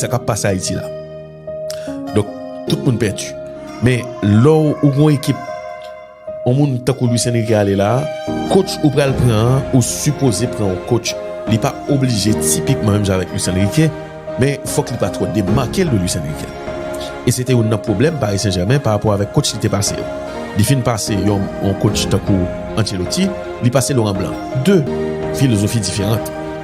Sa kap pase Ayiti la. Donk, tout moun pèdi. Men, lè ou gwen ekip, yon moun tankou Luis Enrique ale la, coach ou pral pran an, ou sipoze pran yon coach, li pa oblije tipikman menm jan avèk Luis Enrique, men fòk li pa twò demake l de Luis Enrique. E se te youn nan pwoblèm Paris Saint-Germain pa rapò avèk coach li te pase yo. Li fin pase yon coach tankou Ancelotti, li pase Laurent Blanc. De filozofi diferant.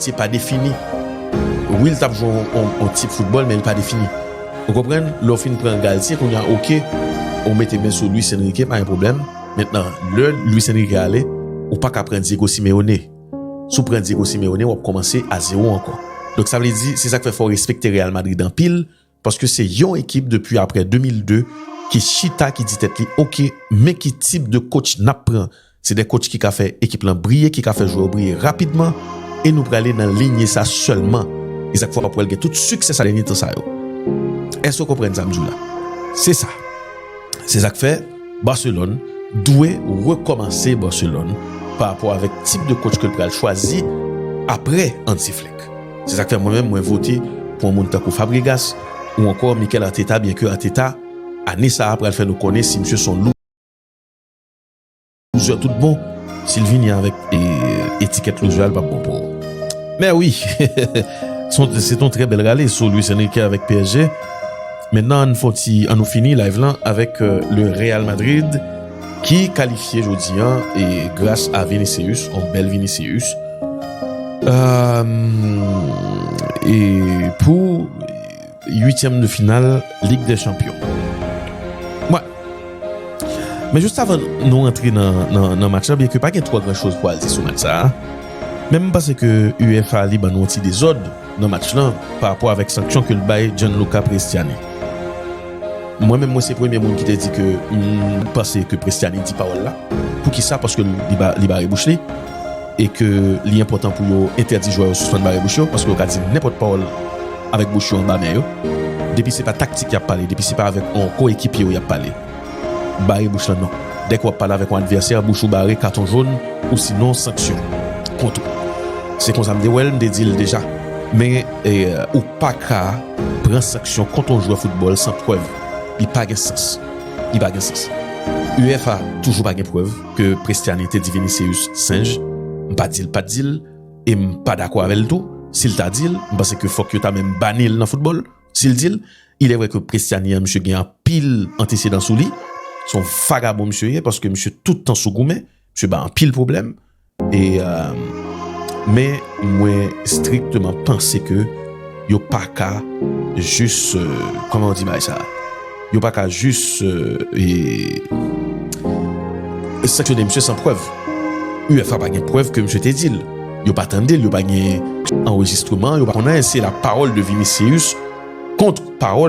Se pa defini. Wi l t ap jwe yon tip foutbòl men li pa defini. Ou konprann? Lè w fin pran Galtier kounye a ok ou mete men sou Luis Enrique pa gen pwoblèm. Mentnan lè Luis Enrique ale ou pa ka pran Diego Simeone. Si w pran Diego Simeone w ap kòmanse a zewo ankò. Donk sa vle di se sa k fè fò w respekte Real Madrid anpil Paske se yon ekip depi aprè 2002 ki chita ki di tèt li ok men ki tip de coach nap pran. Se 2 coach ki ka fè ekip lan briye, ki ka fè jwè yo briye rapidman e nou prale nan linye sa sèlman. E sak fè wap wèl gen tout siksè sa dènye tan sa yo. Èske ou konprann sam diw la? Se sa. Se sak fè. Barcelone dwe rekòmanse Barcelone pa rapò avèk tip de coach ke l pral chwazi aprè Hansi Flick. Se sa k fè mwen menm mwen vote pou yon moun tankou Fabregas ou ankò Mikel Arteta byen ke Arteta ane sa a pral fè nou konnen si misye se yon loser tout bon. Si l vini avèk etikèt loser a l pap bon pou Mè wi! Se t yon trè bèl rale sou Luis Enrique avèk psg. Mentnan ann fon ti an nou fini live lan avèk le Real Madrid ki kalifye jodi an e gras a Vinicius on bèl Vinicius e pou 8 de final Ligue des Champions. Mwen Men just avan nou rantre nan match la byen ke pa gen twò gran choz pou al di sou match sa a men m panse ke UEFA li ban nou on ti dezòd. nan match lan pa rapò avèk sanksyon ke l bay Gianluca Prestiani. Mwen menm mwen se premye moun ki te di ke m panse ke Prestiani di pawòl la. Poukisa? Paske li bare bouch li e ke li enpòtan pou yo entèdi jwè yo sispann bare bouch yo paske yo ka di nenpòt pawòl avèk bouch yo anba men yo. Depi se pa taktik y ap pale, depi se pa avèk yon koyekipye yo y ap pale. Bare bouch lan non. Dèke wap pale avèk yon advèsè bouch ou bare katon jón ou sinon sanksyon kont ou. Se konsa m te wèl m te dil deja. Men ou paka pran sanksyon kont yon jwè foutbòl san prèv. Li pa gen sans. Li pa gen sans. Uefa toujou pa gen prèv ke Prestiani te di Vinicius senj. M pa dil pat dil e m pa dakò avèl tou. Sil ta dil, m panse ke fòk yo ta menm banil nan foutbòl. Si l di l, Ilè vrè ke Prestiani an misye gen anpil antesedan sou li, se yon vagabon misye ye, paske misye tout tan sou goumen, misye bay anpil pwoblèm, e, men mwen strikteman panse ke yo pa ka jis, kòman w di bagay sa a? Yo pa ka jis sanksyone misye san prèv. UEFA pa gen prèv ke misye te di l. Yo pa tande l, yo pa gen anrejistreman, yo pa konnen si se la pawòl de Vinicius kont pawòl.